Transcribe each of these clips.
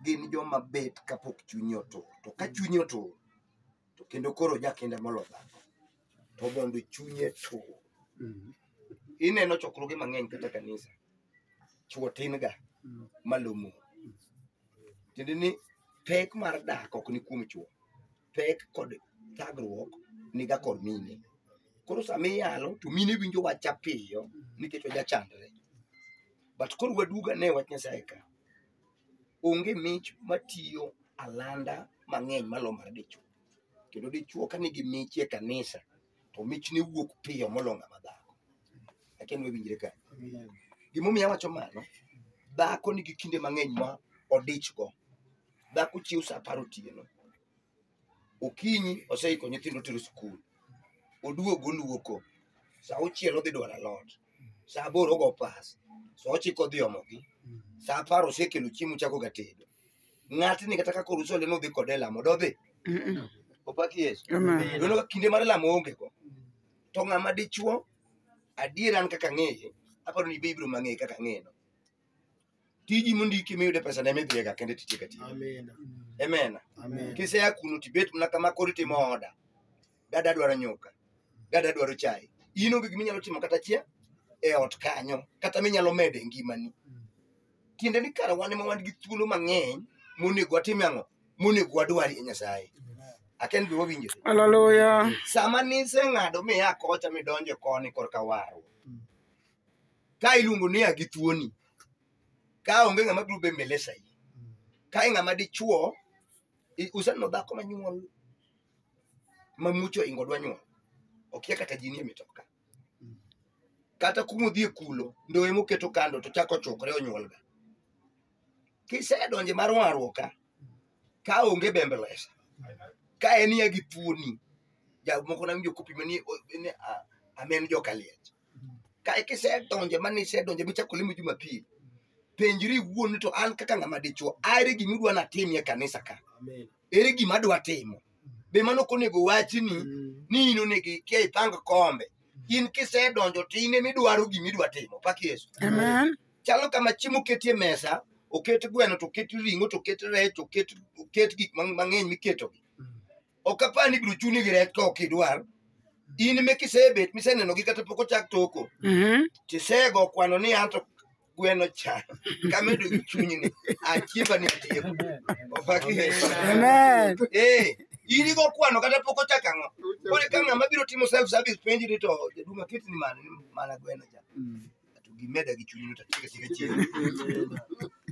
gin joma bet kapok chunye otur to ka chunye otur to kendo koro jakinda molo dhako to mondo chunye tur ineno chokruoge mang'eny kata kanisa chuo tin ga malomo tiende ni pek mar dak ok ni kuom chuo pek kod thagruok niga kod mine koro sama iyalo to mine winjo wacha piyo nikech wajachandre but koro waduga ne wach nyasaye ka onge mich matiyo alanda mang'eny malo mar dichwo kendo dichwo ka nigi mich e kanisa to mich ne wuok piyo moloyo ng'ama dhako lakini wawinjre ka gimomiyo awacho mano dhako nigi kinde mang'eny ma odichgo dhako chiew sa apar otieno okinyi oseiko nyithindo tero skul oduogo oluoko sa auchiel odhi dwaro alot sa aboro ogo pas sa ochiko odhi omogi sa apar osekelo chiemo chako ga tedo ng'atni kata kaka oruso leno odhi kode e lamo dodhi opaki yesu Amen. Dono kinde mar lamo onge go. To ng'ama dichuo, adier an kaka ng'eye, aparo ni be ibiro mang'eye kaka ng'eyeno. tiji mondiki miyude pesa ne midhiega kendo titieka tiyo Amen. emena Amen. kisea kuno tibet mana kama koro itimo oda gada dwaro nyuka gada dwaro chai in onge gima inyalo timo kata chia e ot kanyo kata minyalo medo e ngimani tiende ni kara wan ema wan gi thuolo mang'eny monego watim ang'o monego wadwar e nyasaye aken be wawinjo Hallelujah. sama niseng'ado miya kocha midonjo koni korka warruok ka iluongo ni a gi thuoni ka onge ng'ama biro be mbele sahi ka e ng'ama dichuo i- useneno dhako manyuol mamucho ingo dwa nyuol okia kata jini e mitoka kata kuma odhi e kulo ndoye moketo kando to chako chukre onyuolga kisedonje mar warruok ka ka onge bembelesa ka en ya gi thuoni jamoko na winjo kopimani amen joka liech ka eka isedonje mane isedonje michako limo jumapil penjri iwuon ni to an kaka ng'ama dichwo are gima udwa natimie e kanisa ka Amen. ere gima adwa timo be mano ok onego wachi ni Mm. ni in onego ikia ipang kombe in kisedonjo to in emidwaro gima idwa timo pak yesu Amen. chalo kama chiemo oketie mesa oket gweno to oket ring'o to oket rech oket oket gik mang- mang'eny miketogi Mm. ok apar ni ibiro chuni gi rech ka ok idwar in me kisebet misenenogi kata pok ochak toko Mhm. tisego kwano ni anto gweno cha kamedo gi chunyni achiemba ni atieko opaki Amen. Eh, in igo kwano kata pok ochak ang'o kore ka ng'ama biro timo self service penji ni to jaduma kit ni mana mana gweno cha to gimeda gi chunyni to tiga tiga chiemo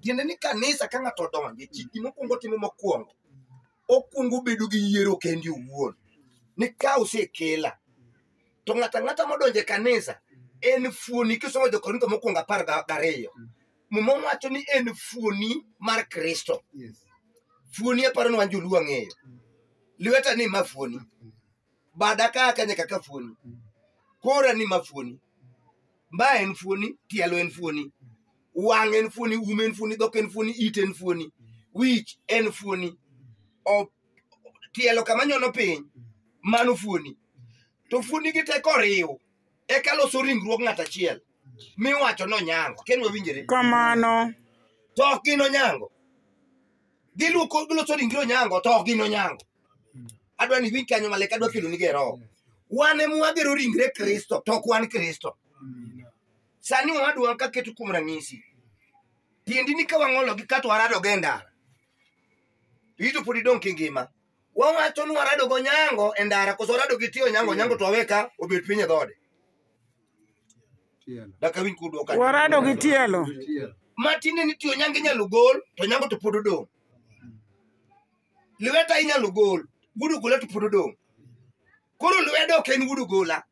tiende ni kanisa ka ng'ato odonje chiki mokwongo timo mokwongo okwongo bedo gi yiero kendi owuon ni ka osekela to ng'ato ang'ata modonjo e kanisa en fuoni kisomo jokorintho mokwongo apar ga- gariyo muma wacho ni en fuoni mar kristo Yes. fuoni aparo ni wan joluo ang'eyo lweta ni ma fuoni bada ka ka nyaka ka fuoni kora ni ma fuoni mba en fuoni tielo en fuoni wang en fuoni um en fuoni dhok en fuoni it en fuoni wich en fuoni O- tielo kama nyono piny mano fuoni to fuoni gi teko oriw eka loso ringruok ng'at achiel miwacho nonyango ken wawinjore Kamano. to ok gin onyango giluko giloso ringre onyango to ok gin onyango adwa ni iwinj kanyo maler kadwa kelo nige roho wan ema wagero ringre kristo to ok wan kristo sani wadwa ka keto kuom ranyisi tiendi ni ka wang'ologi kato waradogo e ndara to ito pod idong' kingima wawacho ni waradogo nyango e ndara koso warado gi tiyo nyango nyango to awe ka obet piny e dhode daka winj kudwoka warado gi tielo matinde ni tiyo nyango inyalo gol to nyango to pod odong' lweta inyalo gol gudu gola to pod odong koro lwedo ok en gudu gola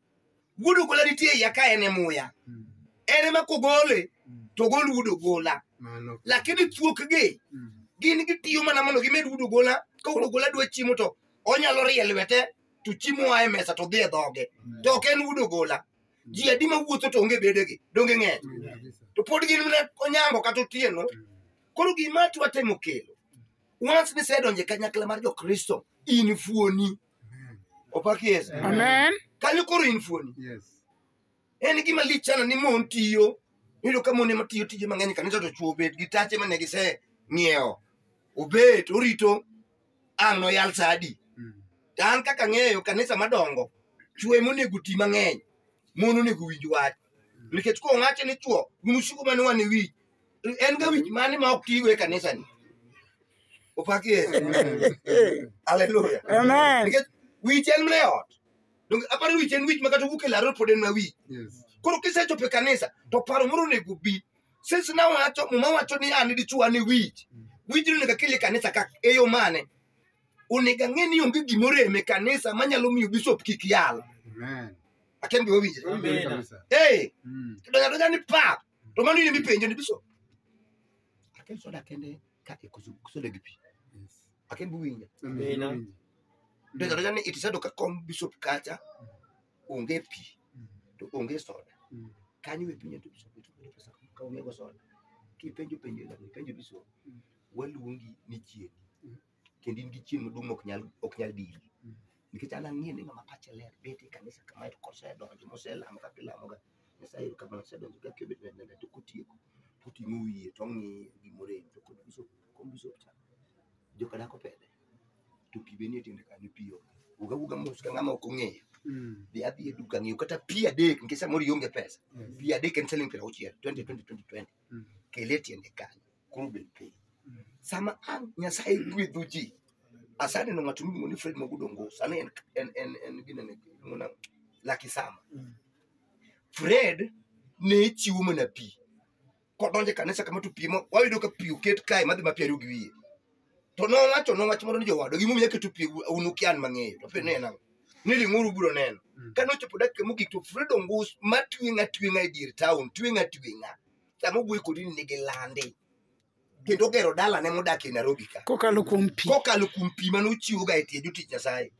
gudu gola nitie iya ka en e muya Mm. en ema kogole Mm. to gol gudu gola Mano. lakini thuokgi Mm. gin gitiyo mana mondo gimed gudu gola ka gudu gola dwa chiemo to onyalo rie lwete to chiemo oa e mesa to dhi e dhoge to ok en gudu gola ji adi ma wuotho to onge bedegi donge ng'eny Mm. Kabisa. to pod gin mana onyango kata otieno Mm. koro gima atwa temo kelo once nisedonjo e kanyakla mar jokristo in fuoni opaki yesu Amen. kanyo koro in fuoni Yes. en gima lich sana ni mon tiyo iyudo ka mon ema tiyo tije mang'eny kanisa to chwo obet gi tache mane gise ng'iewo obet orito ang' noyal sa adi Mm. to an kaka ng'eyo kanisa madongo chwo ema onego ti mang'eny mon onego winj wach nikech kowache ni chwo gin usiku mane wan e wich en ga wich mane ma ok tigo e kanisani opaki yesu aleluya Amen. nikech wich en mne ot donge aparo ni wich en wich ma kata wuok e laro pod en ma wich koro kisechopo e kanisa to paro moro onego bi since na wacho muma wacho ni an dichuo an e wich wich ni onego akel e kanisa ka e yo mane onego ang'e ni onge gimoro em e kanisa manyalo miyo bishop kik yal aken gima winjre Amen. ee donja donja ni pap to mano in mipenjo ni biso aken soda kende ka ikoso soda gi pi aken buwinja Amina. ndio ndio ni itisado ka kom bishop kacha onge pi to onge soda Mm. kanyo e pinyo to bishop to onge pesa ka onge go soda kipenjo penjo la penjo bishop waluongi ni chieni kendo in gi chieng' maduong' ok nyal ok nyal diri nikech an ang'e ni ng'ama pache ler bet e kanisa kama to kosedonjo moselamo kaka ilamoga nyasaye kama osedonjo kaka obet ne nene to kotieko koting'o wiye to ong'iyo gimorem to kod bisop kom bisop cha joka dako pede to pi be nie tiende kanyo pi onge wuga wuga mos ka ng'ama ok ong'eyo Mm. dhi adhi e duka ng'iew kata pi adek nikech samoro ionge pesa Yes. pi adek en siling' piero auchiel 20 20 20 Mm. kele tiende kanyo koro bed piny sama an nyasaye gwedho ji asaneno ng'ato miluongo ni fred magudo ngos ane en, en, en, en ginene iluongo nang'o? laki sama Mm. fred ne chiwo mana pi kodonje kanisa kama to pi mo- wayudo ka pi oket kae madhi ma pi ariyo gi wiye to nowacho nowach moro ni jowado gimomiyo aketo pi un ukian mang'eyo to pe ne en ang'o ni ring'uru biro neno Mm. kane ochopo dakika mogik to fred ongus ma tweng' atweng'a e dier taon tweng' atweng'a sama owuoyo kodi ni nigi lande kendo ogero dalane modak e nairobi ka kokalo kuom pi kokalo kuom pi mane ochiwoga e tie jotich nyasaye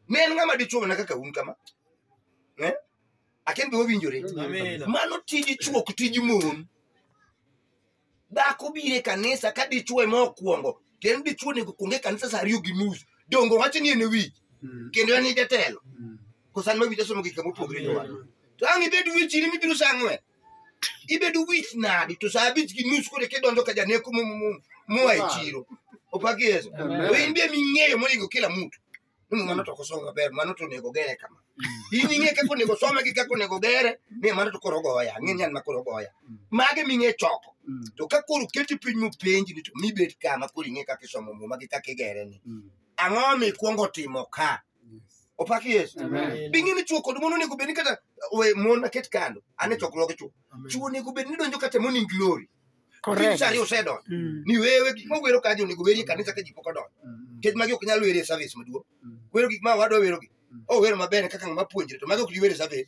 ne en ng'ama dichuo mana kaka un kama Eh? aken be wawinjore Amen. mano tij chuok tij mon dhako bire kanisa ka dichuo ema okwongo kendo dichuo nego kuonge kanisa sa ariyo gi nus dongo wacho ni en e wich kendo en e jatelo kosan ma wich asomo gik kama opogore jowa to ang' ibed wichini mibiro sa ang'wen ibedo wich nadi to saa abich gi nus kode kidonjo ka janeko mu- mu- mu- mua e chiro opaki yeso Amen. to in be ming'eyo monego kila mtu ni mano to kosomo maber mano to onego gere kama in ing'e kaka onego some gi kaka onego gere ni mano to koro goya ang'e ni an ma koro goya mage ming'e choko Mm. to ka koro keti piny mopenji ni to mibet kama koro ing'e kaka isomo muma gi kaka igere ni Mm. ang'o mikwongo timo ka opaki yesu Amen. bing'e ni chuo kod mon onego bed ni kata we mon aket kando ane chokruoge chuo chuo onego bed ni donjo kata morning glory Correct. Tich ariyo osedonjo Mm. ni wewe gik ma wero ka ji onego weri e kanisa ka ji pok odonjo nikech magi ok nyal weri e service maduong wero gik ma wadwa werogi o wero maber kaka ng'ama puonjre to magi ok ji wero e service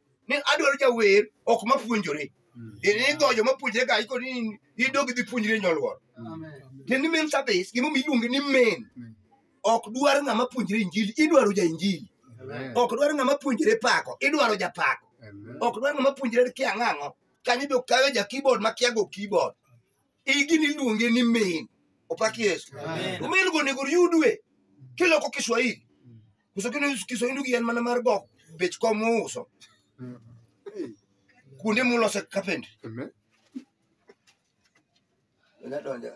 ni adwaro jawer ok mapuonjore inigo joma puonjre ga iko ni idog idhi puonjri e nyoluor tiend ni main service gimomiyo iluonge ni main ok dwar ng'ama puonjre injili idwaro ja injili ok dwar ng'ama puonjre pako idwaro ja pako ok dwar ng'ama puonjre kia ng'ang'o kanyo be okayo ja keyboard ma kia go keyboard igini iluonge ni main opak yesu Amen. umeilgo onego yudwe kiloko kiswahili Uso kino kiso indu yien mana mar gok bech kom uso. Kuonde mulose carpentry. Amen. Nya donja.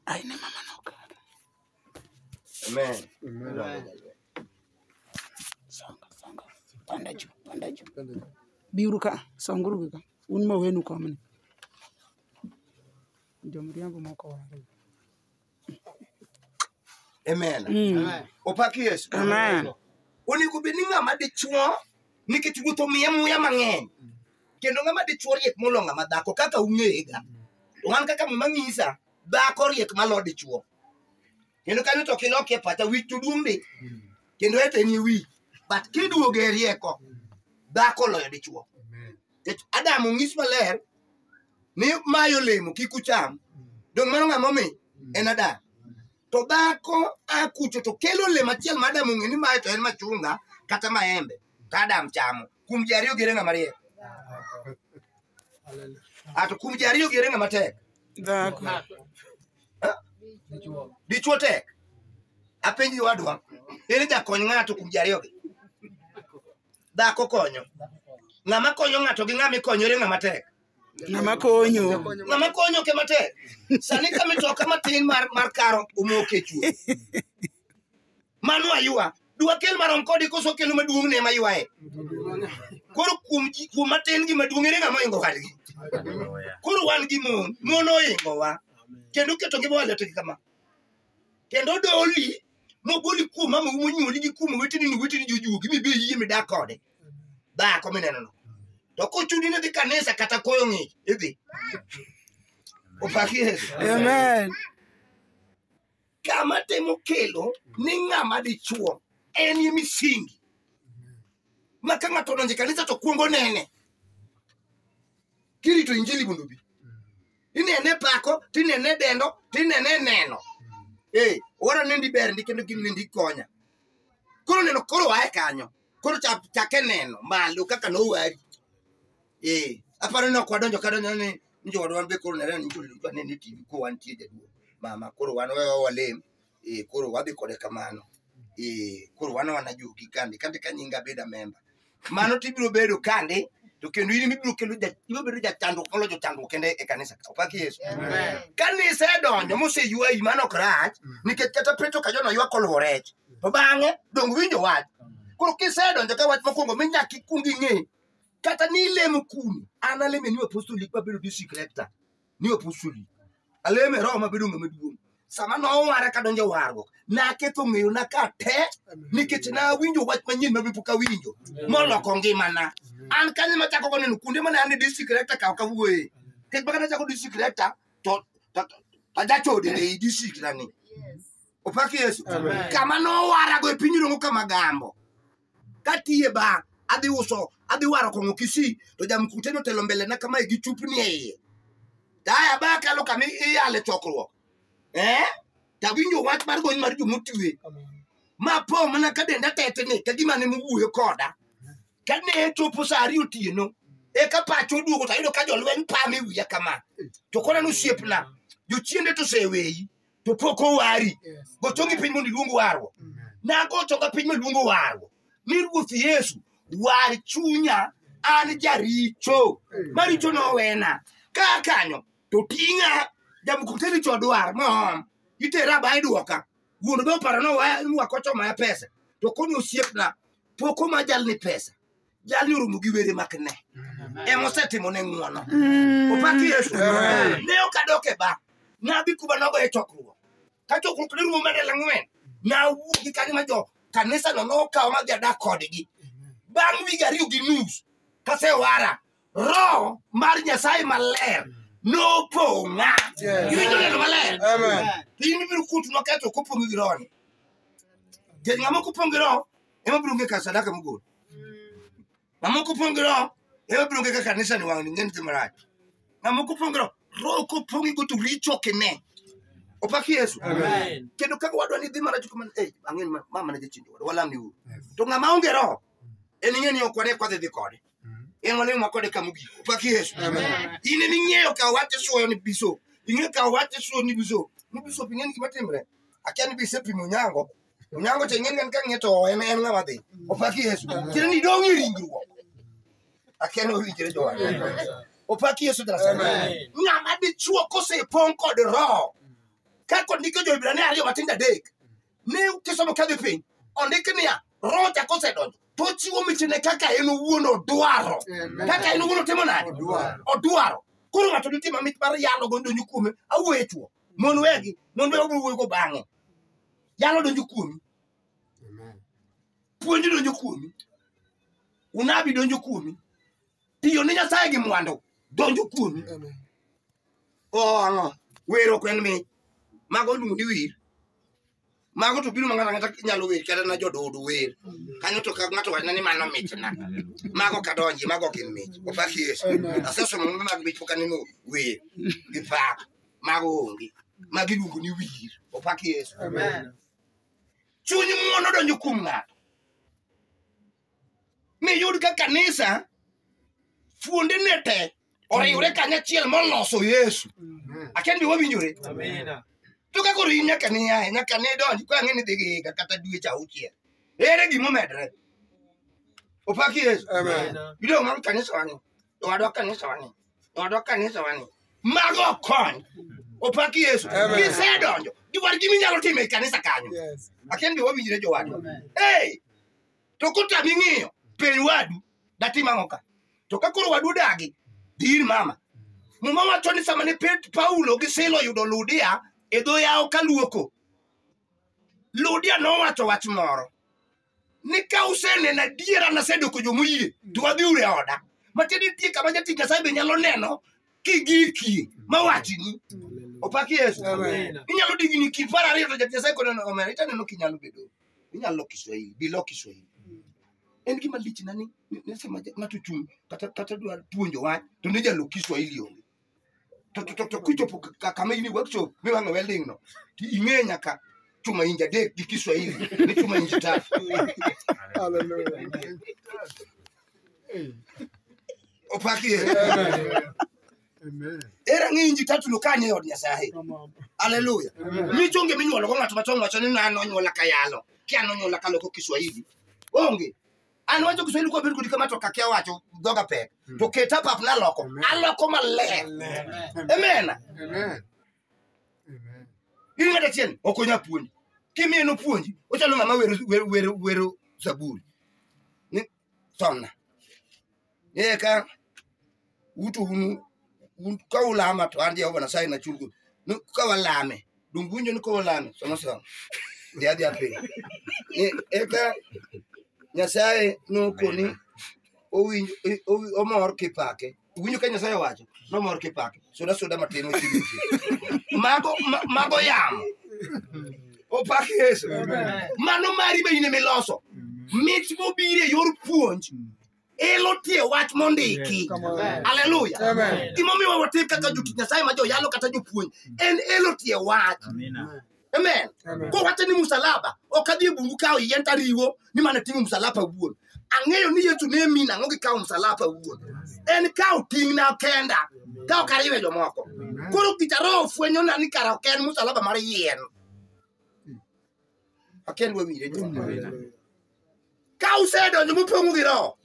Ai ne mama no ka. Amen. Amen. Songa songa. Panda juu, panda juu. Biuru ka, songuru gi ka. Un ma wenu komni. Jomriambo moko wari. Amen. Mm. Opak Yesu. Amen. Onego bed ni ng'ama dichuo nikech wuoth omiye muya mang'eny. Kendo ng'ama dichuo riek molo ng'ama dhako kaka ung'eyega. To an kaka muma ng'isa, dhako riek malo dichuo. Kendo kanyo to kilokie pacha wich to duong' ndi. Kendo eteni wi. But kiduoge rieko, dhako loyo dichuo. Nikech Adam onyis maler ni mae olemo kik ucham. Donge mano ng'ama omi? En Adam. To dhako a kucho to kelo olemo achiel ma Adam ong'e ni mae to en machunga kata maembe. To Adam chamo. Kuom ji ariyo gere ng'ama riek. A to kuom ji ariyo gere ng'ama tek. Dhako. Dichwo tek. Apenji wadwa. Ere jakony ng'ato kuom ji ariyogi? dhako konyo ng'ama konyo ng'ato gi ng'ama ikonyore ng'ama tek ng'ama konyo ng'ama konyo ke matek sani ka mitoka matin mar, mar karo omoke chuo mano ayua dwakel marom kodi koso kelo maduong' ne ma ywaye koro kuom ji- kuom matin gi maduong' ere ng'ama oingo wadgi koro wan gi mon mon oingowa kendo keto gi bwalete kama kendo doli mogoli kuom mama monyuoli gi kuom weteni ni weteni jojuogi mibe yie midak kode dhako mineno no to kochuni ni dhi kanisa kata koyo ng'ich idhi opaki yesu Amen. kama temo kelo ni ng'ama dichuo en ye misingi ma ka ng'ato odonje kanisa to kwongo nene kirito injili mondo obi inene pako tinene dendo tinene neno ee owara nendi ber ndi kendo gin nendi konya koro neno koro wae kanyo koro cha- chake neno malo kaka nowari ee aparo ni ok wadonjo kadonjo ni ni jowadwa be koro nere ni joludwa ne ni tv ko wantie jaduo mama koro wan wewa walem eh, koro wadhi kode kamano eh, koro wan wana jogi kande kande ka nyinga beda memba mano to ibiro bedo kande to kendo in ibiro kelo ja- ibiro bedo jachandruok molo jochandruok kende e kanisa ka opaki yesu Amen. kanisa edonjo moseywayi mano ok rach nikech kata petro ka jona ywak oluwo rech to bang'e dong winjo wach koro kisedonjo ka wach mokwongo mi nyaka ikwong ing'e kata ni ilemo kuni an aleme ni apostol lik mabedo district rector ni opusuli aleme roho mabedo ng'ama duong' sama nowara kadonjo warruok naketo ng'eyo na ka te nikech nawinjo wach manyien ma pok awinjo moloko ngimana an kanye machako koneno kuonde mane an e district rector kaw kawuoye kech baka nachako district rector to to- to- to ajachode ei district na ni opak yesu Amen. kama nowarago e piny iluongo kama gambo katiye ba adhi uso adhi waro kong'o kisii to jamkute notelo mbelena kamae gi chupni e iye taya ba kalo kama iyale chokruok eh? tawinjo wach mar gony mar jomotue ma po mana ka denda tetni ka gima ne mowuoyo koda ka ne chopo sa ariyo otieno eka pacho oduogo tayudo ka jolweny pame wiya kama to koro nosiepna jochiende to oseweyi to pok owari Yes. gocho gi piny mondo iluong warruok Amen. nagocho ka piny maluongo warruok ni ruoth yesu war chunya an jaricho maricho nowena ka kanyo to ting'a jamukuteni chodwar mohom itera ba idwoka wuon be oparo ni wa- ni wakocho maya pesa to koni osiepna poko ma jalni pesa jalni oromo gi were mak ne ema osetimo ne ng'uono opaki yesu ne ok adok e ba nadhi kuma nogo e chokruok ka chokruok ne rumo medel ang'wen nawuok gi kanyo ma jo kanisa no nokawo ma dhi adak kodgi bang' wige ariyo gi nus kasewara roho mar nyasaye maler nopong'a iwinjo neno maler Amen. in ibiro kutu noketho kopong' gi rohoni kech ng'ama kopong' gi roho ema biro onge kar sadaka mogol mamoko pong' gi roho ema biro onge ka kanisa ni wang'ni ng'e nithe marach mamoko pong' gi roho roho kopong'i go to richo ok ine opaki yesu Amen. kendo kaka wadwa ni dhi mana chuko man eh ang'eni ma ma mana jachindo wadwa walam ni uru to ng'ama onge roho en ing'e ni ok wane kwadhi dhi kode en wane ma kode kama ogik opaki yesu in en ing'eyo ka wach isoyo ni biso ing'e ka wach isoyo ni biso ni biso ing'e ni gima timre akia ni bise pimo nyango Onyango to ing'eni en ka ng'e to en en ng'ama dhi. Opaki Yesu. Tiende ni idong' e ringruok. Akia ni owinjore jowar. Opaki Yesu tena sana. Ng'ama dichuo kosepong' kod roho. Ka kod ndiko jo-Hibrania ariyo matindo adek. Ne kisomo kadhi piny. Ondik niya, roho cha kosedonjo to ochiwo michne kaka en owuon odwaro. Kaka en owuon otimo nade? Odwaro. Koro ng'ato ditima mich mar yalo go ndonyo kuome awuoyo e chuo. mon wegi mon wegi obiro wuoygo bang'e yalo donjo kuomi puonj donjo kuomi unabi donjo kuomi tiyo ni nyasaye gi mwandu donjo kuomi oang'o wero kwen mi mago luongo ni wir mago to biro ma ng'ato ang'ata nyalo wer kata na jododo wer kanyo to ka ng'ato wachna ni mano mitna mago kadonji mago ok gin mich opak yesu asesomo mbe mag mich pok aneno wer gi pak mago onge magi iluongo ni wir opak yesu chuny ng'uono donjo kuom ng'ato miyud ka kanisa fuonde ne te oriwre kanyachiel moloso yesu akia ni be wawinjore Amina. to ka koro in nyaka niyae nyaka nidonji ka ang'e ni dhi gi higa kata dweche auchiel ere gima omedre opaki yesu Amen. idong' mag kanisa wani owadwa kanisa wani owadwa kanisa wani mago ok kony opaki yesu Amen. gisedonjo giwar gima inyalo timo e kanisa kanyo Yes. akia ni be wawinjre jowadwa Hey! to kotami ng'iyo piny wadu datim ang'o ka to ka koro wadu dagi dhi ir mama muma wacho ni sama ne Pet- paulo gi sila oyudo ludia e dho yawo ka luoko ludia nowacho wach moro ni ka useneno adiera nasedoko jomoyie to wadhi ure oda matiende nitie kama jatich nyasaye be nyalo neno kigikie mawachini opaki yesu Amen. inyalo digni kipar ariyo to jatich nyasaye koneno omera itaneno kinyalo bedo inyalo loko Kiswahili, bi lok Kiswahili. En gima lich na ni ni- ni sama ja- ng'ato chung' kata kata dwa puonjo wach to ne jalo Kiswahili onge. To to to, to kichopo ka- ka- kama in workshop miwang'o welding no, to ing'e nyaka chuma inji adek gi Kiswahili ni chuma inji tatu. Hallelujah. Opaki ye. Amen. ere ng'e inji tatu no kane e od nyasaye Come on. haleluya Amen. mi chonge minyuolo go ng'ato machon wacho ni an onyuola ka yalo ki an onyuola ka loko kiswahili onge an wacho kiswahili kwa bedo kodi kama to kakia wacho dhoga pek to keta pap naloko Amen. aloko maler Amen. amen Amen. Amen. in ng'at achiel ok onya puonji kimiye nopuonji ochalo ng'ama wero wero wero wero zaburi Ni- sonna ne ka wuto unu ka ulama to an jehova nasaye na chulgo ni ka walame dong winjo ni ka walame somo somo dhi adhi apiny eka nyasaye nokoni omor kipake Iwinjo ka Nyasaye owacho, nomor kipake. Soda soda matin ochiwo ji. Mago ma- mago yamo. Opak Yesu. Mano mari be in ema iloso. Mit mobiro e yor puonj elo tie wach mondiki. Haleluya. Gimomiyo watim kaka jotich Nyasaye ma joyalo kata jopuonj en elo tie wach. amen Amen. kowacho ni msalaba ok adhi e bungu kawo yien tariwo ni mana ting'o msalaba wuon ang'eyo ni yesu ne min ang'o gi kawo msalaba wuon en kawo ting'na kenda ka ok ariwe jomoko koro gita roho fwenyona ni kara ok en msalaba mar yien akel wawire jomawina ka usedonjo mopong'u gi roho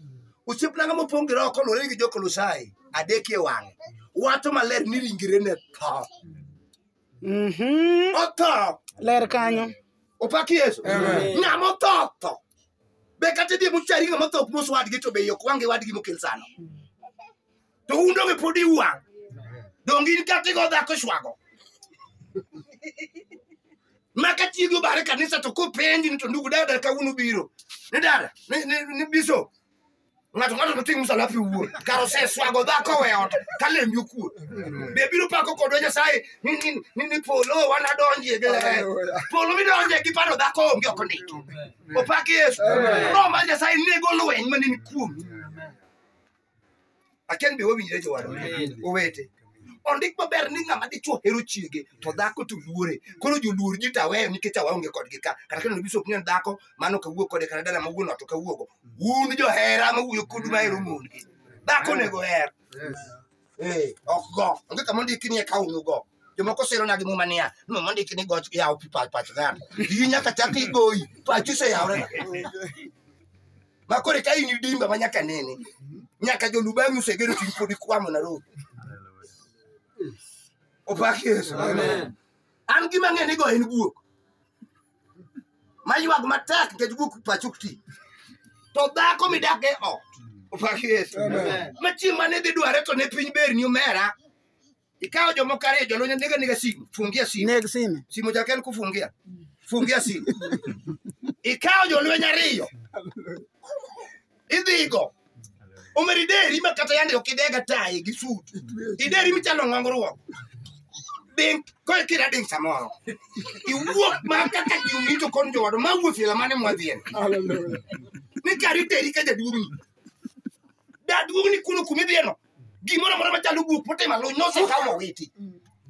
osiepnaga mopong' gi roho koluwore gi jokolosai adek e wang'e wacho maler ni ringre ne tho Mhm. otho ler kanyo opaki yesu ng'ama otho otho be kata idhi muchari ng'ama otho ok mos wadgi to be ok wange wadgi mokel sano to un donge pod iwang' donge in kata igo dhako shwago ma ka chiegi obare kanisa to kopenji ni to ndugu dada kawuono biro ni dada ni- ni ni biso ng'ato ng'ato noting' msalapi wuon kar oseswago dhako we ot ka lembi okuo be biro pako kodwa nyasaye ni- ni- ni ni polo wan adonjie gi ler. polo midonje gi paro dhako onge ok ondiki opak yesu roho mar nyasaye nego lweny maneni kuomi aken be wawinjre jowadwa Amen. owete ondik maber ni ng'ama dichwo hero chiege to dhako to luore koro joluor ji to aweyo nikech awaonge kodgi ka kata kendo biso ok nyen dhako mano kawuo kode kata dala ma wuon ot ok awuogo un johera ma wuoyo kodu ma hero mondgi dhako onego her Eh, ok go onge kama ondiki ni eka unu go jomoko siro nagi muma niya no mondiki ni goch yawo pi pach pach dhano iyi nyaka chak igoyi pachi oseyawre ma koro ka in dimba ma nyaka nene nyaka jolubang'i osegero chuny pod ikwamo na roho opak yesu Amen. an gima ng'e ni go en guok maywag matek nikech guok pacho ok ti to dhako midak e ot opak yesu Amen. ma chieng' mane dhi dware to ne piny berni omera Ikawo jomoko ariyo jolweny nega nega simu, fungia simu. Neg sime. Simu chake en kufungia. Fungia simu. Ikawo jolweny ariyo. Idhigo. Omeri deri ma kata yande ok idega tayi gi sut. Ideri michalo ng'ongruok. Ding, koe kira ding samoro. Iwuok ma kaka jumi to kon jowadu ma wuoth ila mane mwadhien. Ni kari teri ka jaduong' ni. Jaduong' ni kuno kumidhieno. gimoro amora machalo guok motimo aluny nosekaw mowiti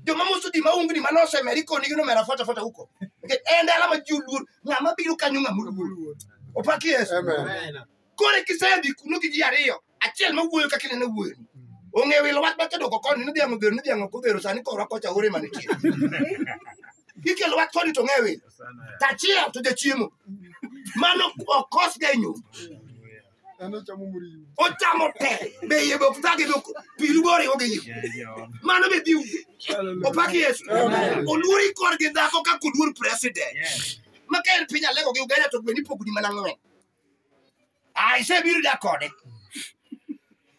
joma moso di maungni ma nosemeri konigi nomera fota fota huko nikech en dala ma ji oluor ng'ama biro kanyo ng'ama oluor opak yesu Amen. kore kisedhi kuno gi ji ariyo achiel ma wuoyo kaka ineno wuoyoni ong'eyo wilo wach makedoko koni ni dhiang' odhero ni dhiang' ok odhero sani korwa kocha ore manitie ikelo wach koni to ng'e wilo tachiel to jachiemo mano okosga e nyumba ochamo te be iye bok thage bok piru boriwo gi yo mano be biu opak yesu oluori kor gi dhako kaka oluor president ma ka en piny alego gi uganda to gweni pogni mana ng'wen ai se biro da kode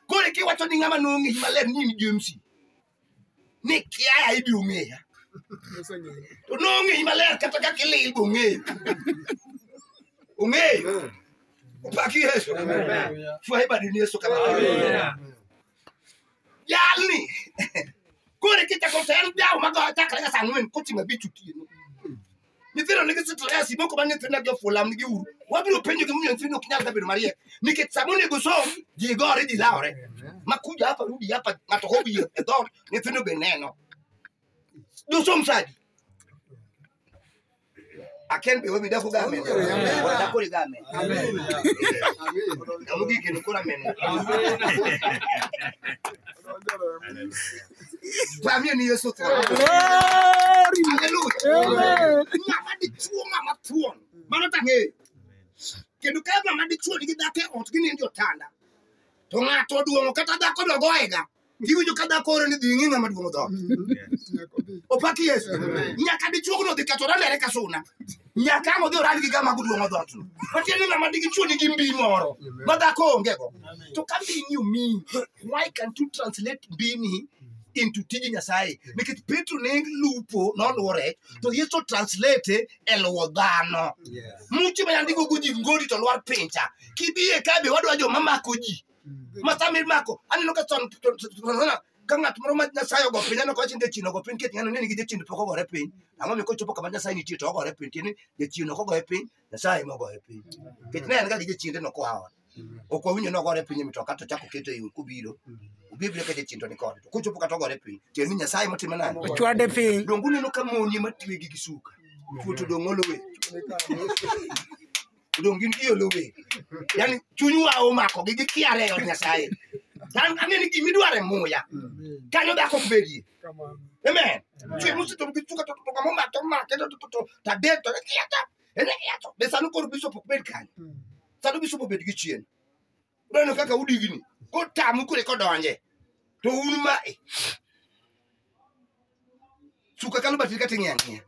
kore kiwacho ni ng'ama nong'eyi maler ni in james ni kiaya ibiro ng'eya to nong'eyi maler kata kaka ilil be ong'eyo ong'eyo opaki yesu fwaye badi ni yesu kama jalni kore kichako ter jawo magoyo chakre ka saa ang'wen kochimo abich otieno nyithindo nigi stress moko ma nyithindo gi ofulam nigi uru wabiro penjo gi munyalo nyithindo ok nyal bedo mariek nikech sama onego som ji gore ji lawore makuja hapa rudi hapa ng'ato hobi e dhot nyithindo be neno dosom sadi aken be webi dako game dako ri game Amen. Amen. Amen. Pamie ni Yesu tho. Haleluya. Ng'ama dichuo ng'ama thuon. Mano tang'eyo. Kendo ka ng'ama dichuo nigi dhako e ot ginindo e otanda. To ng'ato oduong'o kata dhako dogoyega. Giwinjo ka dhako oro ni dhi ng'i ng'ama duong'o dhoot. Opaki Yesu. Nyaka dichuogno dhi ketore lere ka suna. nyaka ang' odhi orad gi gama guduong' odhotno matiende ni ng'ama digi chuo nigi mbi moro ma dhako ongego to ka mbini omiyi why can't you translate mbini into tij nyasaye nikech petro ne lupo noluwo rech to yesu translate e luwo dhano muche ma yandigo go ji ngori to lwar pincha kibie kabe wadwa joma mako ji masa mi mako aneno ka son ona ka ng'at moro ma nyasaye ogo piny aneno ka wachni jachien ogo piny ketng'ano neni gi jachien pok ogore piny ang'o mi kochopo kama nyasaye nitie to ogore piny tieni jachien ok ogoye piny nyasaye ema ogoye piny kech ne en ga gi jachiende no koa ot ok wawinjo ni ogore piny e mitoka to chako keto e yo kobiro obibiro ka jachien to nikode to kochopo kata ogore piny tieni ni nyasaye motimo nani Ochwade piny. donge uneno ka moni ema twegi gi suka chuo to dong' olowe odong' gin gi olowe yani chunywa omako gi gikiare e od nyasaye An- ang'e ni gima idwaro e muya kanyo dhako ok bedie amen chwe mosito gi chuka to kama omako omake to to to tadek to kiato ene kiato be sanu koro bishop ok bed kanyo sanu bishop obed gi chien uneno kaka udigni kotamu kule kodonje to un ma e. suka kalo batiri kata ing'e ang'eya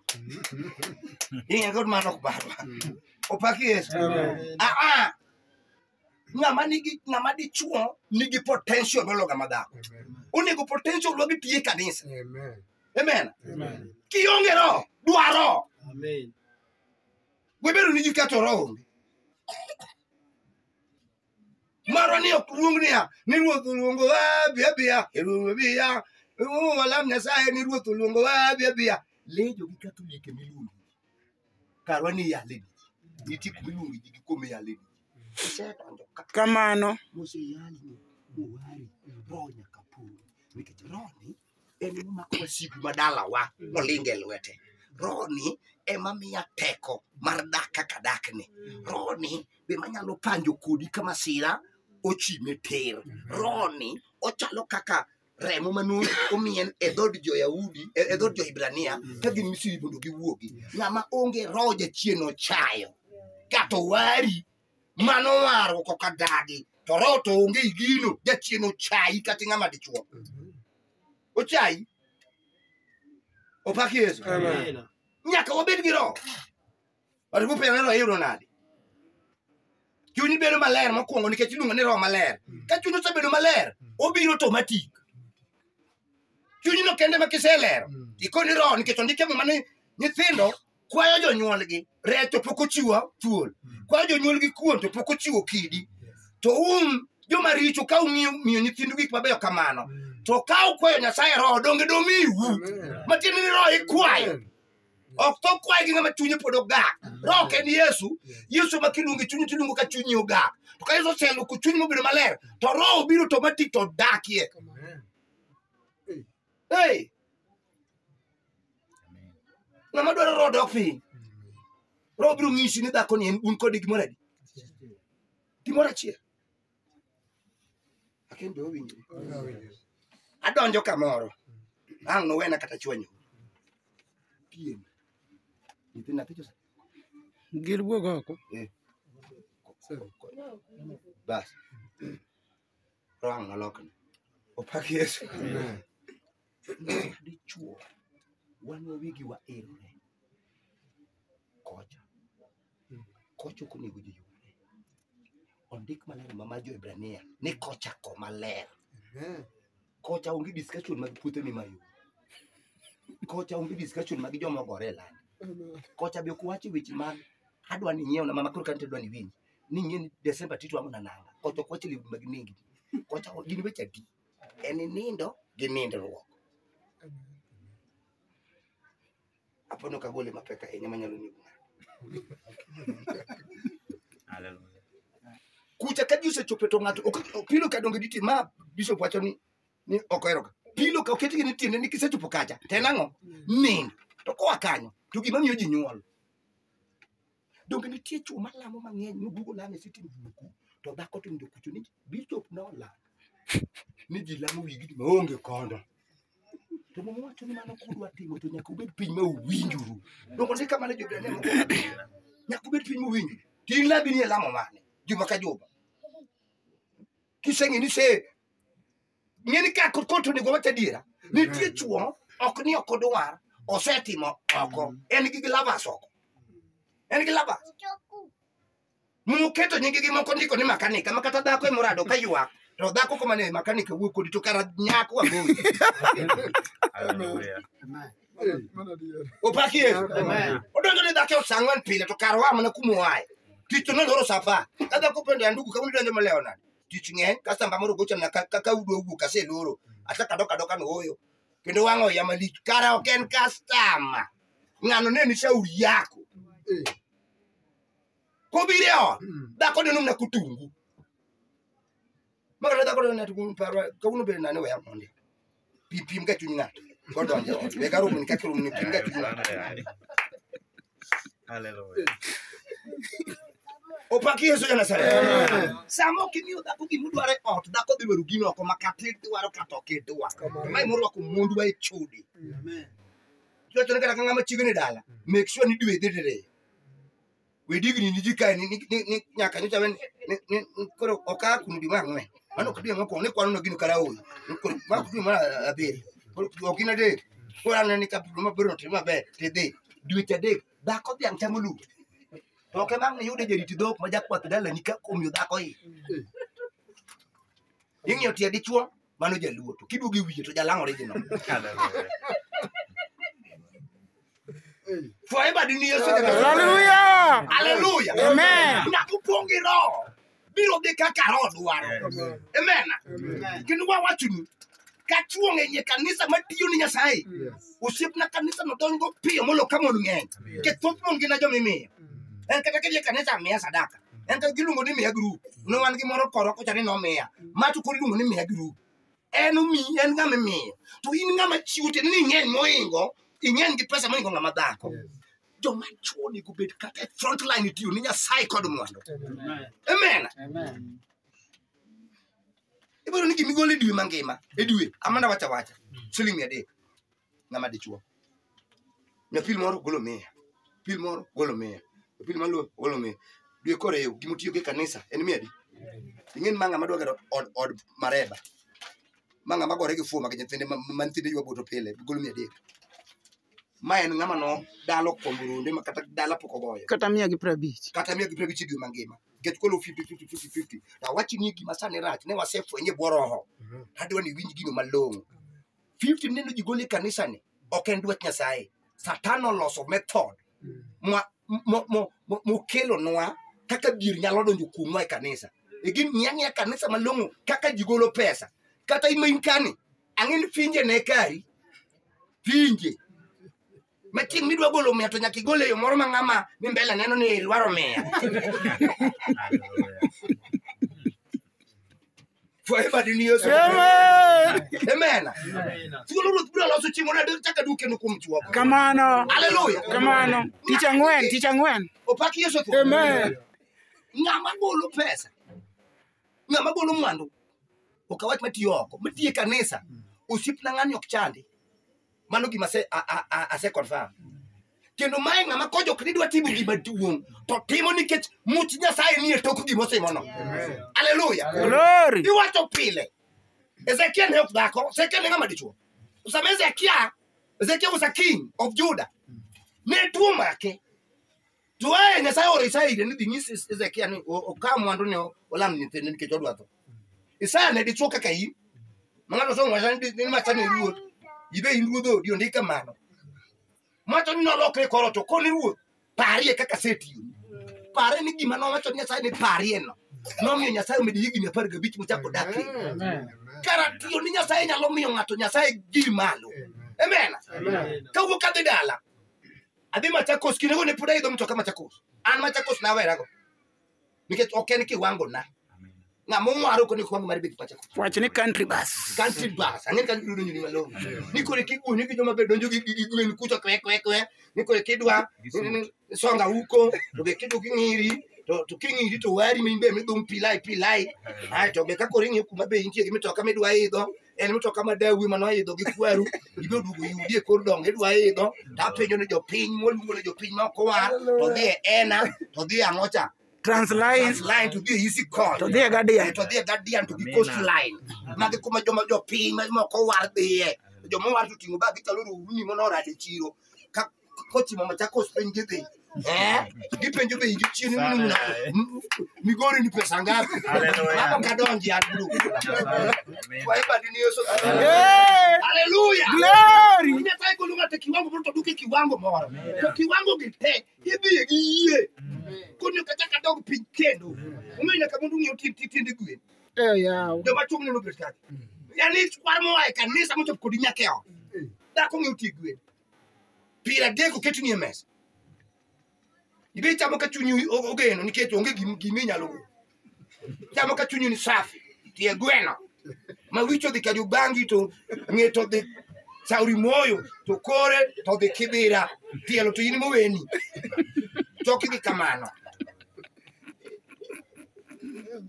ing'e kod mano ok barwa opaki yesu aa ng'ama nigi ng'ama dichuo nigi potential mologa madhako onego potential wa bitiye kanisa amen kionge roho dwaro webedo niji kato roho onge marwa ni ok luong niya ni ruoth oluongo wa biya biya eruoth biya eruoth walam nyasaye ni ruoth oluongo wa biya biya lejo gi katolike miluongo karwa ni yale ni ti kuma iluongo ji gi kuom yale ni isedonjo ka Kamano. moseyali ni mowari roho nyaka pong nikech roho ni en momako wasigu ma dalawa molingo e lwete rohoni ema miya teko mar dak kaka dakni rohoni be manyalo panjo kodi ka masira ochime ter rohoni ochalo kaka remo mane omien e dhod jo-yahudi e e dhod jo-hibrania ka gin misiri mondo giwuogi ng'ama onge roho jachien ochayo kato wari mano warruok ok adagi to roho to onge i gino jachien ochayi kata ing'ama dichuo ochayi opak yesu Amen. nyaka wabed gi roho watu kupewa roho iyudo nade chuny bedo maler mokwongo nikech iluongo ni roho maler ka chuny osebedo maler obiro to matik chunyno kende ma kiselero ikoni roho nikech ondike muma ni nyithindo kwayo jonyuolgi rech to pok ochiwo thuol kwayo jonyuolgi kuon to pok ochiwo kidi to un joma richo ka umiyo miyo nyithindu gik mabeyo kamano to ka ukwayo nyasaye roho donge domiwu matiende ni roho ikwayo ok to kwaye gi ng'ama chunye pod ogak roho ok en yesu yesu ma kiluonge chunye tiluongo ka chunyi ogak to ka yesu oseloko chunyi mobedo maler to roho biro to matik to odakie hey! ng'ama dwaro roho dok piny roho biro ng'isi ni dhako ni en un kode gimoro adi gimoro achiel aken be owinjo adonjo kamoro ang' nowena kata chwanyo piem nyithi nyathi jose Gir wuog oko. bas rohang nolokne opak yesu dichuo wan wawigi waerore kocha kocha ok onego ji yudre ondik maler ma mar jo-hibrania ni kocha ko maler kocha onge discussion mag puothe mimayo kocha onge discussion mag joma ogore e lande kocha be ok wache weche mag adwa ni nyiewna mama koro kante dwa ni winji ni ng'eni Desemba tito amo nananga. Kocho kwache liu mag nengi. Kocha gini wecha di. En nindo gi nindruok. Hapo ndo kagole mapeka yenye manyalo ni kuna. Hallelujah. Kucha ka Yesu chope to ng'ato ok- ok- pilo ka donge diti ma bishop wacho ni ni ok eroga. Pilo ka oketi ni tiende ni kisechopo kacha. Tena ng'o? Nindo. To koa kanyo to gima miyo ji nyuol. donge nitie chwo malamo mang'eny moduogo lamo e sitin buku to dhako to onge kucho ni bishop nolal ni ji lamo wigni maonge kondo to mama wacho ni mano kudwa timo to nyaka ubed piny ma uwinjuru donge ni kamano jobrania moko nyaka ubed piny muwinjo tin labi ni e lamo mane juma ka juma kiseng'e ni se ng'e ni ka kod konto onego wacha adiera nitie chuo ok ni ok odwar osetimo oko en gi glavas oko en gi glavas muketo nyingi gi moko ndiko ni makanika ma kata dhako emorado ka ywak to dhako koma ne makanika wuok kodi to kara nyako wagoyi Hallelujah. opaki yesu Amen. odonjo ni dhako saa ang'wen pile to kara wa mana kumoaye tich to noloro saa apar ka dhako pendo ya ndugu kawuono idonjo malewo nade tich ng'eny kasto amba moro gochona ka ka- ka udo owuok aseloro asa kadoka doka no oyo kendo wang'a oya malich kara ok en kastama ng'ano ne ni shauri yako Eh. kobiro e ot dhako ne nomna kotungu makata dhako ne tugu parwa kawuono bende nane weya mondi pi pim ga chuny ng'ato kodonjo ot be garum ni kaka rum ni pim ga chuny ng'ato Hallelujah. opaki yesu ja nazareth sama ok imiyo dhako gima odwaro e ot dhako dhi dwaro gino oko ma kata idwaro kata ok idwar mae morwako mondwa e chode iwachone kata ka ng'ama chiegni dala make sure ni dwe dhi diriyo we digni ni jika ni ni ni- ni nyaka nyocha wen ni ni ni- koro oka kunu di mangwe mano kidi ngo ko ni kwano no gino kala oyi koro ma kidi ma abiri koro ok ina de koro an ni ka ma biro no tima be te de dwe te de da ko biang tamo lu to ke mang ni yude jeri ti dok ma jakwath dala ni ka kom yu da ko yi ingyo tie dichuo mano jaluo to kiduogo e wiye to jalang' original forever dini yesu nyaka Hallelujah. haleluya Amen. nyaka upong' gi roho biro dhi kaka roho dwaro amen kendo wawachonu ka chuong' e nye kanisa matiyo ni nyasaye osiepna kanisa no dongo piyo molo ka mon ng'eny ke thoth mon gina jomimiyo en kata kidhi e kanisa miya sadaka en to giluongo ni miya group ne wan gi moro koro kocha ni nomiya ma to koro iluongo ni miya group en omi en ng'ama imiyo to in ng'ama chiwo tiende ni ing'eny moingo ing'eny gi pesa moingo ng'ama dhako joma chwo onego bed kata e front line tiyo ni nyasaye kod mwandu amen ibiro ni gimigol e dwe mangima e dwe amana wacha wacha siling mia adek ng'ama dichuo nyapil moro golo miya pil moro golo miya pil maluo golo miya dwe kore ewu gima utiyo gi kanisa en miya di ing'en ma ng'ama dwa gero od, od mareba ma ng'ama gore gi fuma gi nyithinde ma ma nyithinde ywa boto pile golo miya adek ma en ng'ama no dalo kuom runde ma kata dala pok ogoyo kata mia gi prabich kata miya gi pira gichidio mangima nikech kolo 50-50-50 to awachni gima sani rach ne wasefwenye bwo roho adwa ni winj gino malong'o 50 mineno ji gole kanisani ok en dwach nyasaye satan oloso method mwa- mo- mo- mo- mokelonwa kaka dhier nyalo donjo kuomwa e kanisa egin ng'iang'ia kanisa malong'o kaka ji golo pesa kata imain kani ang'e ni finje ne kari finje ma chieng' midwa golo miya to nyaka igole yo moro ma ng'ama ni mbele neno ni ilwaro miya forever in yesu amen thuolo ruoth biro loso chieng' moro adek chaka duke no kuom chuok kamano haleluya kamano tich ang'wen tich ang'wen opak yesu thuolo amen ng'ama golo pesa ng'ama golo mwandu ok awach matiyo oko matiye kanisa osiepna ng'ani ok chandi mano gima ase- a- a- a- ase confirm kendo mae ng'ama kojok ni dwa timo gima duong' to timo nikech much nyasaye nie tok gima otimono aleluya Glory. iwacho pile ezekiel ne ok dhako ezekiel ne ng'ama dichuo sama ezekia ezekia was a king of juda ne tuo make to aye nyasaye oro isaya ire ni dhi nyis Hez- hezekia ni o- okaw mwandu ni o- olam nyithinde nikech odwa tho isaya ne dichuo kaka in ma ng'ato somo wacha ni di- ni macha ni ruoth ibe in ruodh odi ondik kamano macho ni nolokre koro to koni ruoth parie kaka setiyo pare ni gima nowacho ni nyasaye ni parie no nomiyo nyasaye omedo higni apar gabich mochako dak e Amen. kara tiyo ni nyasaye nyalo miyo ng'ato nyasaye gi malo amen kawuok kadhi dala adhi machakos kinde go ne pod aidho mtoka machakos an machakos nawerago nikech ok en kiwango na ng'ama ong'waro koni kiwango mar bedo machakos Wach ni country bus. country bus ang'e ka yudo nyiri malong'o ni kore kiguni gi joma be donjo gi gi- gi gwen kucho kwe kwe kwe ni kore kidwa ni- ni- ni- songa huko to be kidu king'iri to to king'iri to wari min be midhum pilai pilai ai to be ka kore ing'e kuma be intie gi mitoka midwa idho en mtoka ma dawi ma noidho gi kwaru ibiro duogo yudi e kor dongo idwa idho to apenjo ni jopiny moluongo ni jopiny ma ok owar to dhi e ena to dhi e ang'o cha Transline. line to dhi e easy call To dhi e Guardian. Eh, to dhi e guardian to gi coast line magi kuma joma jopiny ma ma ok owar dhiye joma owar to ting'o bag gichalo rohuni mono orade chiro kochimo machakos piny gidhi Eh, gipenjo be ingi chieni Sana, mnuna eh. migori ni pesa ngapi Hallelujah. hapo kadonji adru kwa hiyo badini Yesu haleluya Glory. Unataka kulunga te kiwango mtu duke kiwango mora to kiwango gite hibi giye kunyo kata kadog piny kendo umenya kabundu ngiyo titi tindi gwe Eh, yawa. joma chung' neno birkati yani kwar moa e kanisa mochop kodi nyakeo dhako ng'iyo ti gwen Piero adek oketni e mesa. Ibe ichamo ka chunyi o- ogeno nikech onge gim- gima inyalo go. Chamo ka chunyi ni safi, tie gweno. Ma wicho dhi kaju bangi to ng'e to dhi sauri moyo to kore to dhi kibira tielo to in moweni. Choki dhi kamano.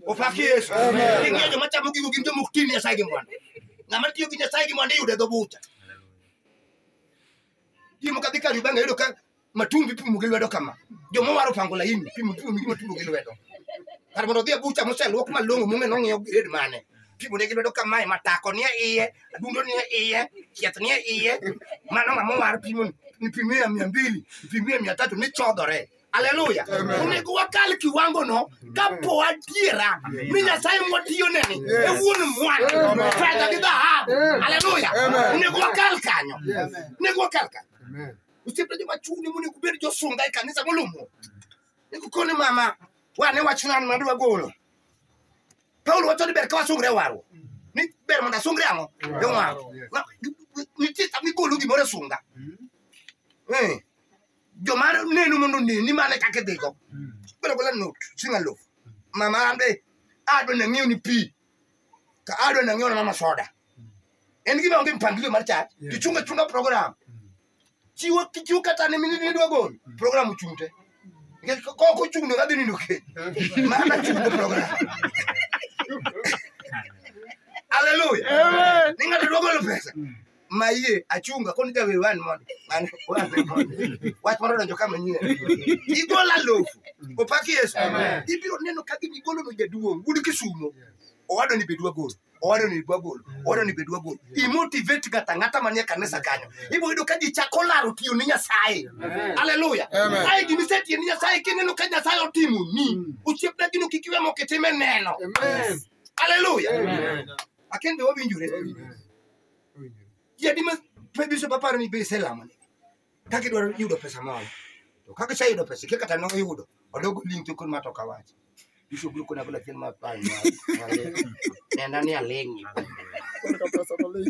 Opaki Yesu. Ing'eyo joma chamo gigo gin joma ok ti ne Nyasaye gi mwandu. Ng'ama tiyo gi Nyasaye gi mwandu iyudo e dho bucha. Jimo kadhi kar Uganda yudo ka matumbi pimo gi lwedo kama. Joma waro pango laini pimo pimo gi matumbi gi lwedo. Kar mondo odhi e bucha moseluok malong'o mong'e nong'iewo grade mane. Pimo ne gi lwedo kamae matako nie iye, adundo nie iye, chieth nie iye. Mano ng'ama owar pimo ni pimo ya mia mbili, pimo ya mia tatu ni chodhore. Haleluya. Onego wakal kiwango no kapo adiera ni Nyasaye mwatiyo neni e wuon mwandu fedha gi dhahabu. Haleluya. Onego wakal kanyo. Onego wakal kanyo. Usipe joma chuni monego ubed josunga e kanisa molumu. Nego koni mama wane wach nan ma dwa golo. Paulo wacho ni ber ka wasungre waro. Ni ber mondo asungre ang'o? E waro. Na- Nitie sama igolo gimoro e sunga. Eh. joma neno mondo onen ni mane kaka idhigo bedo gola not singa lof mama ambe adwa nang'iew ni pi ka adwa nang'iew na mama soda en gima onge mpangilio mar chat Yeah. tichunga chunga program chiwo kichiwo kata ne mini nidwa gol program ochung'te nikech ka ok ochung'no kadhi nindo keny mana chung'o program haleluya ni ng'ato dwa golo pesa mayie achunga koni jawer wan mondo an wan mondo wach moro donjo kama nyie igola lofu opak yesu Amen. ibiro neno ka gini igolo no jaduong wuod kisumo owado ni bedwa gol owado ni bedwa gol owado ni bedwa gol imotivate ngata ngata manie kanisa kanyo ibo yudo ka ji chako laro tiyo ni nyasaye haleluya Amen. aye gini setiyo ni nyasaye kineno ka nyasaye otimo ni osiepna gino kik iwe mokitime neno haleluya akende wawinjore Jadi mas pebi so papara ni be selama ni. Kaki dwaro yudo pesa moro. To kaka cha yudo pesa kaka tano yudo. Odogo link to kun matoka wacha. Iso gulu kuna kula kin mapani. Nenda ni alengi.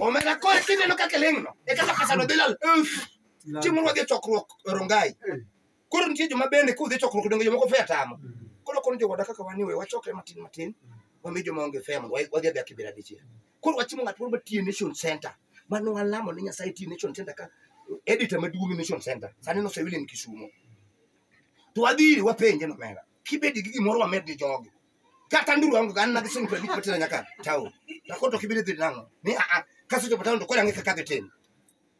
Omera ko kine no kaka lengno. E kaka pesa no bilal. Chimu wadhi chokruok Rongai. Koro nitie joma bende kudhi chokruok donge jomoko fe atamo. Koro kono jowada kaka waniwe wachoke matin matin. Wami joma onge fe mondo wadhi adhi akibira dichiel. koro wachimo ng'at moro matiyo e nation center mane walamo ne nyasaye tiyo e nation center ka editor maduong' e nation center sani nosewile ni kisumo to wadhi ire wapenje nomera kibedi gi gimoro wamed ni jogi kata nduru wangu ganna gi sing prabik patira nyaka tao takoto kibedi dhi nango ni a a kaso jopo tao to kora ng'e kaka gitin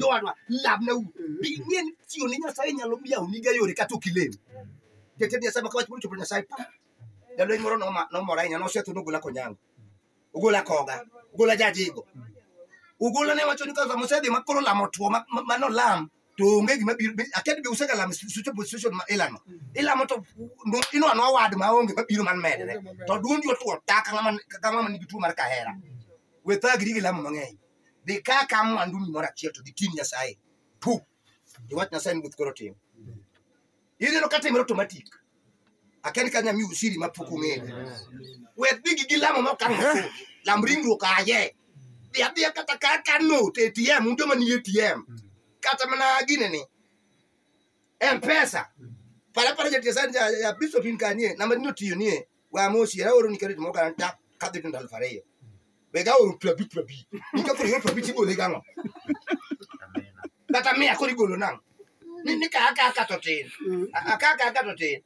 jowadwa lamne u bi ing'e ni tiyo ne nyasaye nyalo yawoniga yore kata ok ilem jatend nyasaye ma kawach mochopo nyasaye pa jalweny moro noma- nomora ahinya nosetho nogola konyango ogola koga ogola jajigo ogola ne wacho ni ka sama osedhi ma koro lamo two ma- ma- manolam to onge gima biro be- aked be usega lamo sucho position ma ilano ilamo to no- ino anwa wad ma onge mabiro man medre to duondi otwo ta ka ng'ama ka ng'ama nigi tuo mar kahera we thagri gi lamo mang'eny dhi ka ka mwanduni moro achiel to gitin nyasaye pu iwach nyasaye ni guth koro tim ineno ka timre automatic akani ka nyamiu siri ma pok ong'eyo we dhi gi gilamo ma okang' osudo lam ringruok aye dhi adhiya kata ka ka note atm un joma ni atm kata mana ginene mpesa para para jatiesani ya bishop in kanie namba ni otiyo nie wa mo si ra oru ni kare mo kan ta ka de tun dal fare yo be ga oru prabi prabi ni ka fure prabi ti bole ga no tata me akori golo nan ni ni ka ka ka to tin a ka ka ka to tin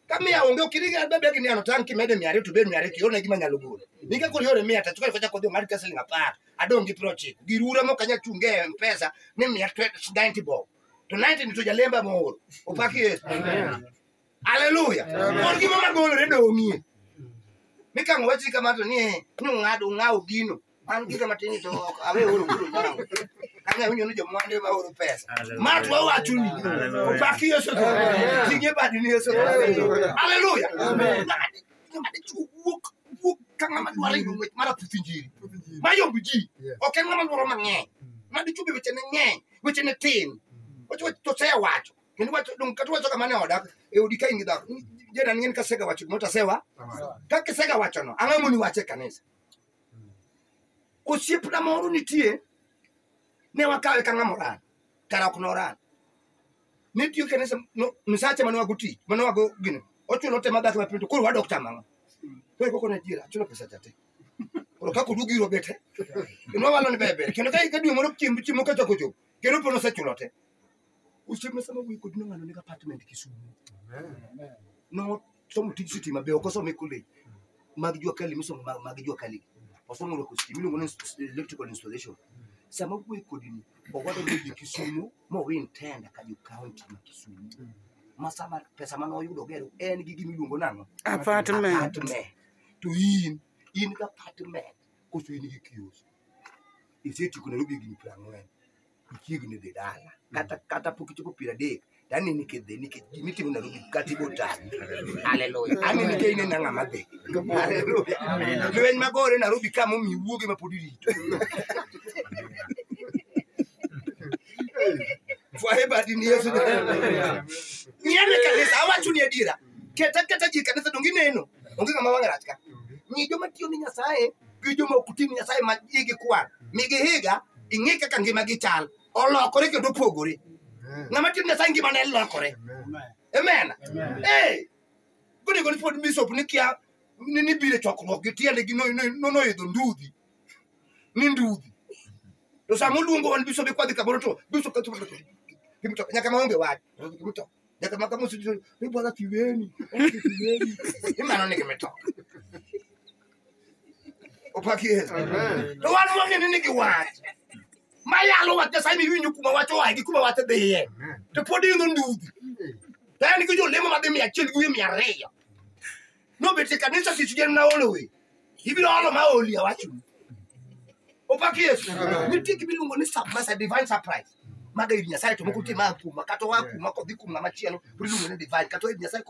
ka me onge kiri ga be be ni ano tan ki mede mi ari tu be mi ari ki ona gi manyalo golo ni ka kori ore mi ata tuka koja kodhi mar kasling apar adong gi prochi gi rura mo kanya chunge mpesa ni mi atwe 90 bob to 90 ni to jalemba mo opaki yesu Haleluya. Amen. Mon gima magolore dong'ie. Mi kang wachi kama to ni eh, ni ung'ado ung'awo gino. An gika matin to ok awe oro kuno nyango. Kanya winyo ni jomwande ma oro pesa. Ma to wawacho ni. Hallelujah. Opaki Yesu to. Amen. Tinge badi ni Yesu. Hallelujah. Haleluya. Amen. Ng'ama dichuo wuok wuok ka ng'ama dwaro yudo ng'wech mar aputh injili. Ma yomb ji. Yes. Ok en ng'ama dwaro mang'eny. Ma dichuo be wechene ng'eny, wechene tin. Ochocho to sewacho. Kendo wacho dong kata wacho kamane odak e odi ka in gi dhako. Jena ng'en ka sega wacho gimoro to asewa. Ka kisega wacho no, ang'o moni wache kanisa? Osiepna moro nitie ne wakawe ka ng'ama oran. Kara ok noran. Ne tiyo kanisa no misache mane wago tich, mane wago gino. Ochuno te madhako mapinto koro wadok tamang'o. Koro koko na jira, chuno pesa chate. Koro kako dugi ro bete. Kendo walo ne bebe. Kendo ka ka dwe moro chiemb chiemo ka choko chop. Kendo pono sechulo te. Osiepna sama wuoyi kodi no ng'ano nigi apartment Kisumu. No somo tij sitima be ok osome college mag jua kali misomo mag, mag jua kali. Osomo rwako sitima iluongo ni ins- electrical installation. Sama wuoyi kodi ni owado ni Kisumu ma win tenda ka jo county ma Kisumu. Ma sama pesa mane oyudo gero en gi gima iluongo nang'o? Apartment. apartment to in in gi apartment koso in gi kios isetieko nairobi higni piero ang'wen ichiegni dhi dala kata kata pok ichopo piero adek to aneni kidhi nikech gima itimo Nairobi kata ibo tami haleluya aneni ka ineno ang'a madhi haleluya lweny magore Nairobi ka momi iwuoge ma pod irito fwaye badi ni Yesu nyane kanisa awacho ni adiera keta keta ji e kanisa donge ineno onge ng'ama wang'e rach ka nyi joma tiyo ni Nyasaye gi joma ok tim nyasaye ma igi kwar migi higa ing'e kaka ngimagi chal olokore kendo opogore ng'ama tim nyasaye ngimane lokore amen ee gonego ni pod bishop ni kia ni ni biro e chokruok gi tiende gi no- no- no- noidho ndudhi ni ndudhi to sama oluongo wan bishop ikwadhi kamoro to bishop kacho kimto nyaka maonge wach kimto nyaka maka musi ni bwana tiweni tiweni imano ni kimto Opak Yesu. Amen. To wan wang'eni ni giwach. Ma yalo wach Nyasaye mi winyo kuma wach oaye gi kuma wach dhiye. To pod idho ndudhi. To en gi jolemo madhi mia achiel gi wiye mia ariyo. Nobet e kanisa tich gen na olo we. Ibiro olo ma oli awacho. Opak Yesu. Nitie gima iluongo ni surprise, a divine surprise. Maga ir Nyasaye to moko nitie ma a kuma kata oa kuma kodhi kuma machielo. Pod iluongo ni divine kata oa ir Nyasaye kodhi